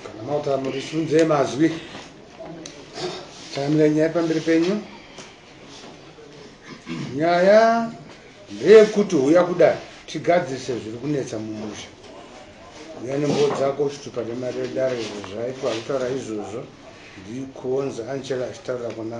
kana mauta murisunze mazwi taimira nyaya pamberi penyu nyaya ndeyekuti huya kudai tigadzirise zviri kunetsa mumusha uya nembowo dzako uchitupa nemari yedare izvo zvaitwa kutaura izvozvo ndikuonza angela achitaura kuna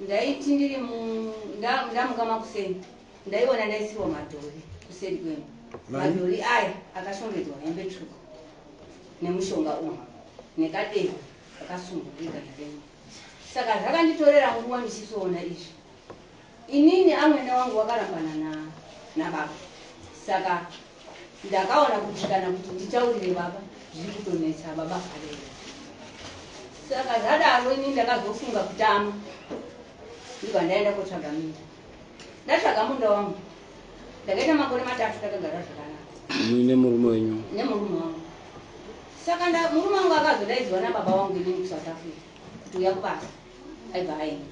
ndaiti ndiri ndamuka makuseni ndaiona ndaisiwa madhori kuseri kwemba madhori aya akashongedzwa hembe tsvuku nemushonga uyu nekadevu akasungwa igana renyu saka zvakanditorera nguva ndichisoona izvi inini amwene wangu wakarambana nababa saka Ndakaona kuti kana kuti nditaurire baba zviri kutonetsa baba vharera. Saka zvadaro ini ndakazofunga kutama ndibva ndaenda kotsvaga minda. Ndatsvaga munda wangu ndakaita makore matatu takagara zvakanaka. Ini nemurume wenyu? Nemurume wangu. Saka murume wangu akazodaidzwa nababa wangu inini kuSouth Africa kuti uya kubasa aibva aenda.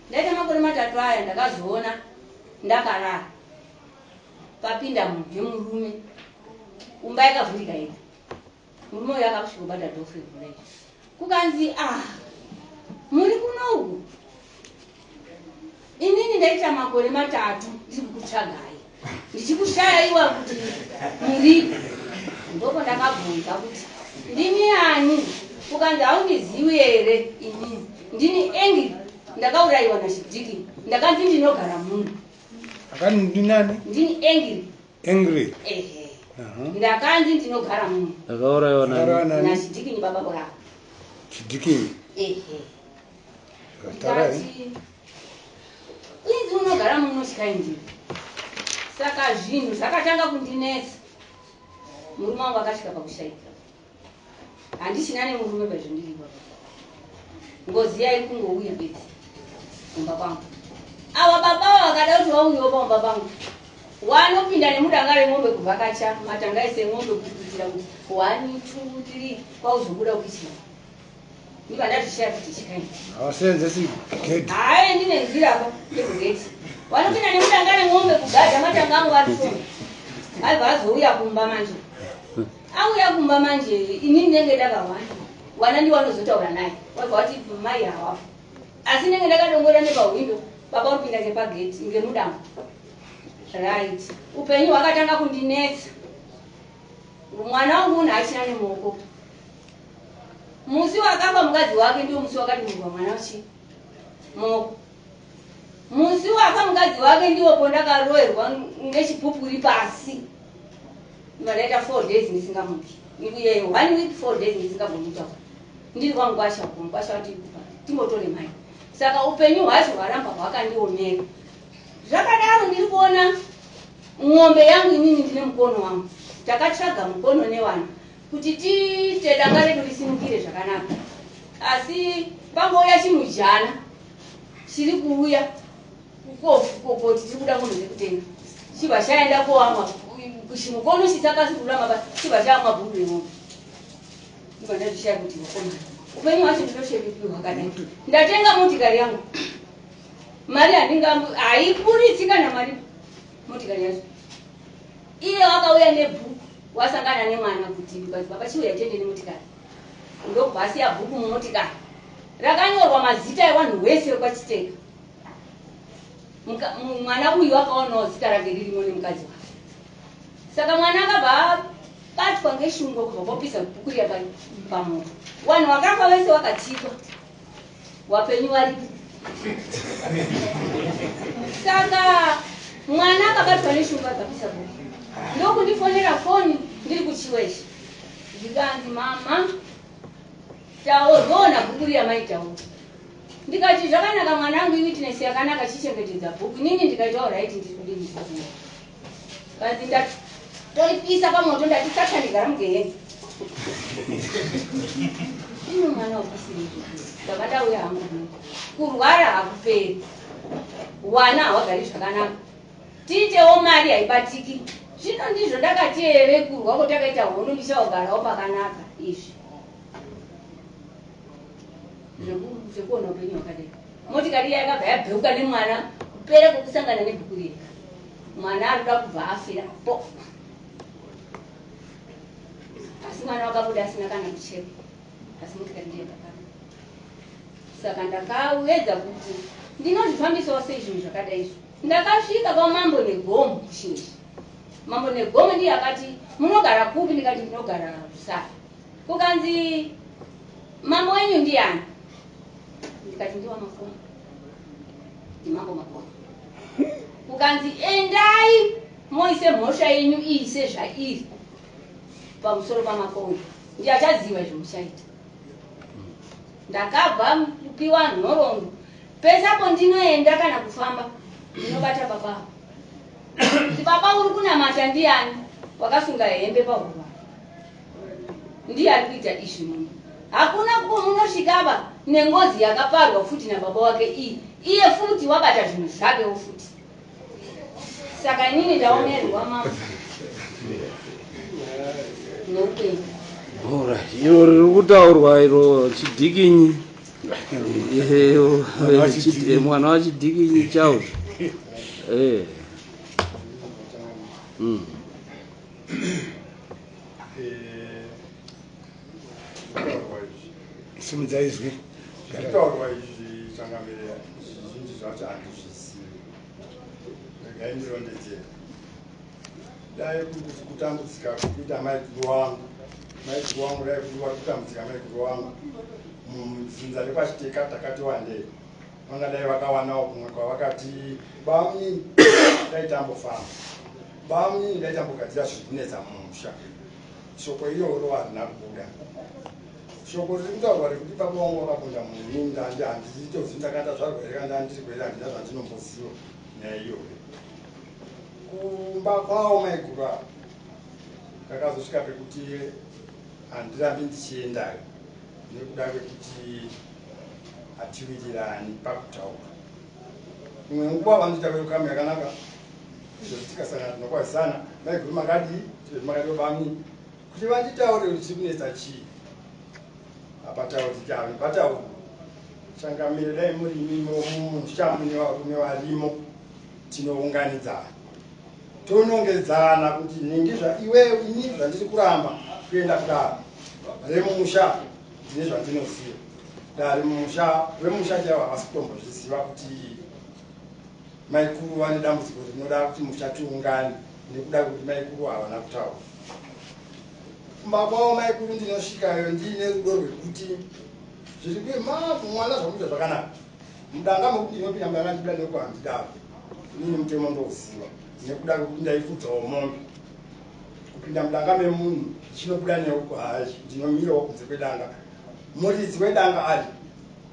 Ndaita makore matatu aya ndakazoona ndakarara papinda munhu nemurume kumba yakavhurika yega murume uyo akakusvika ubata dhofu revhura iri kukanzi ah muri kunoku inini ndaita makore matatu ndiri kukutsvagai ndichikushaya iwa kuti muripi ndoko ndakabvunza kuti ndimi ani ukanzi haundiziwi here inini ndini engi ndakaurayiwa nachidiki ndakanzi ndinogara muno akani ndinani ndini angry angry ehe ndakanzi ndinogara muno ndakauraiwa nani nachidikinyi baba bwaa chidikinyi ehe ndikati inzi unogara muno chikaindi saka zvinhu zvakatanga kundinetsa murume wangu akasvika pakushaika handichina nemurume pazvandiri baba ngozi yaikungouya bedzi kumba kwangu ava baba ava vakada kuti vauyewo pamumba pangu wanopinda nemudanga remombe kuvhakacha matanga ese emombe kuti kuitira kuti one two three kwauzobuda kuichira ndivandazvishaya kuti chikaini havaseenzesi gedi haaendi nenzira apa yekugeti wanopinda nemudanga remombe kugadha matanga angu vatisona aibva azouya kumba manje Auya kumba manje ini ndinenge ndakahwanda hwana ndiwo anozotaura naye wabva wati mai hawapo asi ndinenge ndakadongorera nepahwindo baba uri kuinda nepageti inge mudambo right upenyu hwakatanga kundinetsa mwana wangu unhu achina nemuoko musi wakafa mukadzi wake ndiwo musi wakadimurwa mwana uchi moko musi wafa mukadzi wake ndiwo pondakaroerwa nechipupuri pasi Ndakaita four days ndisingamuki. Nikuye one week four days ndisingagoni kutaura. Ndiri kwamukwasha uko mukwasha wati kupa timbotore mai. Saka upenyu hwacho hwaramba hwakandiomera. Zvakadaro ndiri kuona ng'ombe yangu inini ndine mukono wangu. Takatsvaga mukono newana kuti tiite danga redu risimukire zvakanaka. Asi pangouya chimujana chiri kuuya Kukofu kokoti tiri kuda munhu zvekutenga. Chibva chaenda koamwa kushimo konoshisa pasi kururama pasi chibva chaamwa bhuru remombe. Ndibva ndazvishaya kuti vakomana. Upenyu hwacho ndinoshevekirwa hwakadai. Ndatenga motikari yangu. Mari handingambo haiburitsi kana mari motikari yacho. Iye wakauya nebhuku wasangana nemwana kuti because baba chiuya tiende nemotikari. Ndokubva asiya bhuku mumotikari rakanyorwa mazita evanhu wese wekwachiteka. mwana uyu akaonawo zita rake ririmo nemukadzi wake saka mwana akabva abatwa ngeshungo kubva kwapisa bhuku riya pamoto wanhu wakafa wese wakatikwa wapenyu waripi saka mwana akabatwa neshungo akapisa bhuku ndokundifonera foni ndiri kuchiweshe ndikanzi mama taurona bhuku riya maitaura Ndikati zvakanaka mwanangu iwitness yakanaka chichengetedza book inini ndikaita alright ndiri kudini zvikuru kanzi ndatoipisa pamoto ndati satani gara mugeheni ini mwana wakusiri ndaba ndauya hangu kurwara hakuperi wana hawagari zvakanaka tiitewo mari haibatiki zvino ndizvo ndakati ere kurwa kotakaita hono ndichaogarawo pakanaka izvi zvekuona upenyu hwakadai motikari iya yakabva yabheuka nemwana kupera kwekusangana nebhuku riya mwana anoda kubva afira po asi mwana wakabuda asina kana mucheko asi motikari ndiyo yakakana saka ndakawedza kuti ndinozvifambisawo sei zvinhu zvakadai izvo ndakasvika kwamambo negomo kushinji mambo negomo ndiye akati munogara kupi ndikati ndinogara kusara Kukanzi mambo wenyu ndiani? Ndikati ndiwa makomo. Ndimambo makomo. Kukanzi endai moise mhosva yenyu iyi sezvairi pamusoro pamakomo. Ndiye achaziva izvo muchaita. Ndakabva kupiwa nhoroondo. Pese apo ndinoenda kana kufamba ndinobata baba avo. Kuti baba uri kunamata ndiani wakasunga hembe pahuro. Ndiye ari kuita izvi muno. Hakuna kuko munosvika ava nengozi yakaparwa futi nababa wake iyi. Iye futi wabata zvinhu zvakewo futi. Saka inini ndaomerwa mama. Neupenyu. Bhora iro riri kutaurwa iro chidikinyi. Ehe, o- Mwana wa eh, chiti- chidikinyi. eh, mwana wachidikinyi chawo. Eh. Mm. simudza izwi zvitaurwa izvi changamire zvizhinji zvacho handizvizivi regai ndirondedzera dai kuti kutambudzika kuita maiguru wangu maiguru wangu dai kuti vakutambudzika maiguru wangu mudzinza rekwachiteka takati wandei vangadai vakawanawo kumwe kwavakati bami dai tambofamba Bam ini ndaitambogadzira zviri kunetsa mumusha. Shoko iroro harina kubuda. Shoko riri kutaurwa rekuti baba wangu vakapunda munhu ini ndanga handizivi tozi ndakatadzvarwa here kana ndanga ndiriko here handina zvandinomboziva nyaya iyoyo. Kumba kwawo maiguru ava ndakazosvika pekuti handirambi ndichiendayo nekuda kwekuti hatiwirirani pakutaura. imwe nguva vanoita welcome yakanaka izvozvi tikasangana tinokwazisana maiguru makadii tizvozvi makadii bami kuti vanditaure kuti chiri kunetsa chii hapatauri tichave patauri changamire dai muri imimo muchamu nevarume varimo tinounganidzana tonongedzana kuti nhingi zvaiwewe ini zvandiri kuramba kuenda kudaro remumusha Ndine zvandinoziva dare mumusha vemusha chaivo havasi kutombozviziva kuti maikuru vane dambudziko rinoda kuti musha tiungane nekuda kuti maikuru havana kutaura kumba kwavo maikuru ndinosvikayo ndiine rudo rwekuti zviri kuye mavu mwana zvakuita zvakanaka mudanga mekuti ndinopinda mudanga ndikuda nekuhandidaro inini mutemo ndouziva nekuda kwekuti ndaifudzawo mombe Kupinda mudanga memunhu ndichinobuda newe kuhazvi ndinomirawo kunze kwedanga muridzi wedanga ari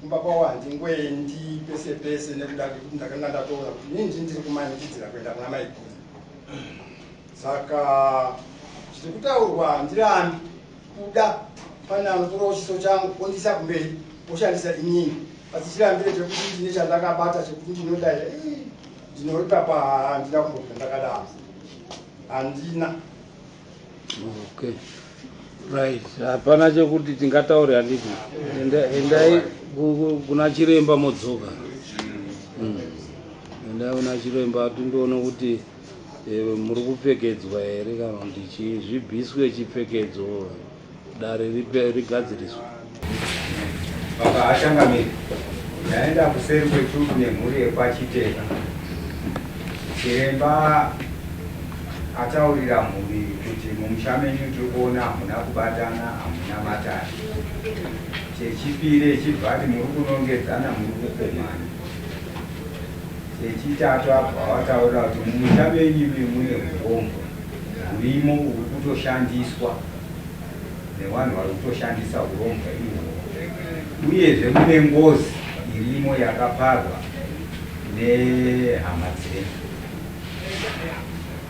kumba kwawo handingoendi pese pese nekuda kekuti ndakanga ndatoona kuti ini ndini ndiri kumanikidzira kuenda kuna maiguru saka zviri kutaurwa handirambi kuda pane anotorawo chiso changu ondiisa kumberi oshandisa inini asi chirambire chekuti ndine chandakabata chekuti ndinodaira ndinoripa pahandina kumbobva ndakadaro handina okay right hapana chekuti tingataure handiti endai kuna chiremba modzoka hmm. endai kuna chiremba tindoona kuti eh, muri kupfekedzwa here kana kuti chii zvibviswe chipfekedzo Dare rigadziriswe. Baba Ashangamire, ndaenda kuseri kwetuku nemhuri yekwaChiteka. Chiremba ataurira mhuri kuti mumusha menyu tiri kuona hamuna kubatana, hamuna matare. Chechipiri echibva ati muri kunongedzana, muri kukomana. Chechitatu abva wataurira kuti mumusha menyu mune hurombwa hurimo huri kutoshandiswa nevanhu vari kutoshandisa hurombwa ihwohwo uyezve mune ngozi irimo yakaparwa nehama dzedu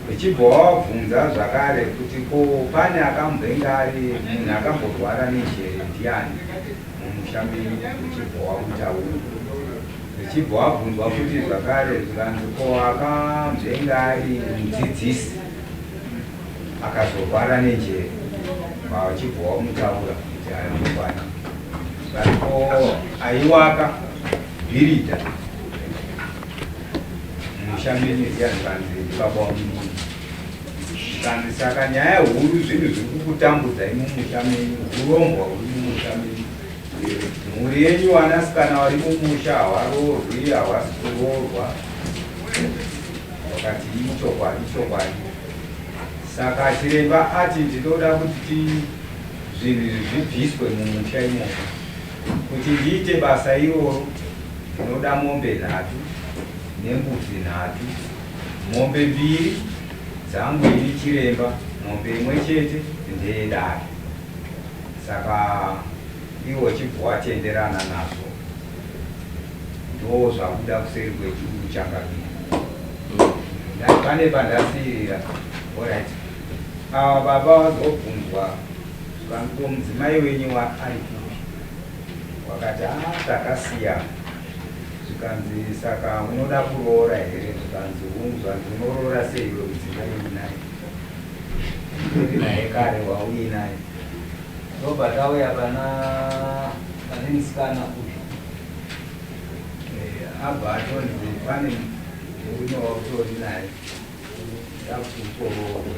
vachibva wavabvunza zvakare kuti ko pane akamboinge ari munhu akamborwara nenjere ndiani mumusha menyu vachibva wakutaura vachibva wabvunzwa kuti zvakare zvikanzi ko akamboinge ari mudzidzisi akazorwara nenjere vachibva wamutaura kuti aya mukwana vatipo aiwaka bhiridha musha mene riyanzikanzi ndibaba wamunhu kanzi saka nyaya huru zvinhu zviri kukutambudzai mumusha menyu urombwa huri mumusha menyu mhuri yenyu vanasikana vari mumusha havarorwi havasi kuroorwa Vakati ichokwadi ichokwadi. Saka chiremba ati ndinoda kuti zvinhu izvi zvibviswe mumusha imomo. Kuti ndiite basa iroro ndinoda mombe nhatu nembudzi nhatu. Mombe mbiri dzangu ini chiremba, mombe imwe chete ndeyedare. Saka iwo chibva watenderana nazvo. ndoo zvabuda kuseri kwechuru chakabira ndati pane pandasirira orit ava baba vazobvunzwa vaniko mudzimai wenyu waari kupi wakati a ah, takasiyana zvikanzi saka unoda kuroora here zvikanzi hungu zvanzi unoroora seiwe mudzimai unaye naye kare wauinaye Ndobva tauya pana pane musikana uyu eh, abva atonzi pane murume wautori naye takukukororo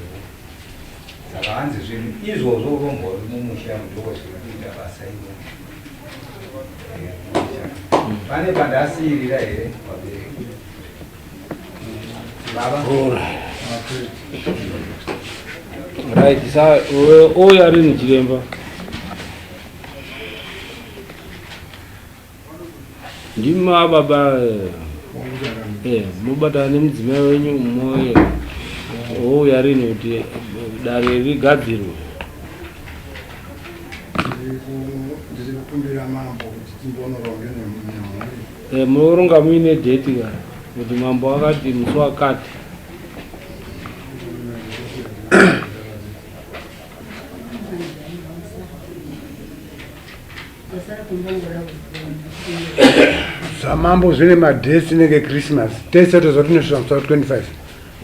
saka hanzi zvinhu izvozvo urombori mumusha mudoko zviri kuita basa iro eh, pane pandasiirira here pabereki Right, sasa huyu ari ni chiremba. Ndima baba eh mubata ne mudzimai wenyu umoye. Huyu ari ni kuti dare rigadzirwe. Ndiri kukumbira mambo kuti timbonoronge nemhuri. Eh, munoronga muine date ka kuti mambo wakati musi wakati zvamambo zvine madhesi nenge christmas tese tozva tinosvira musi wa 25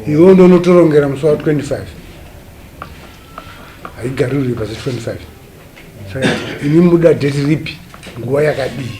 iwo ndo unotorongera musi wa 25 haigarirwi pasi 25 saka ini muda dheti ripi nguva yakadii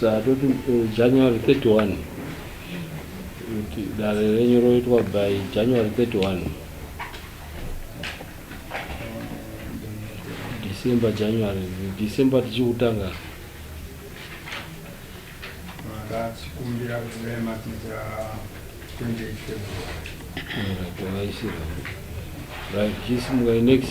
Saka toti eh, January 31 kuti dare renyu roitwa by January 31 December January December tichikutanga ndachikumbira kuvematija 28 February right, right, right. Right, chisimukai next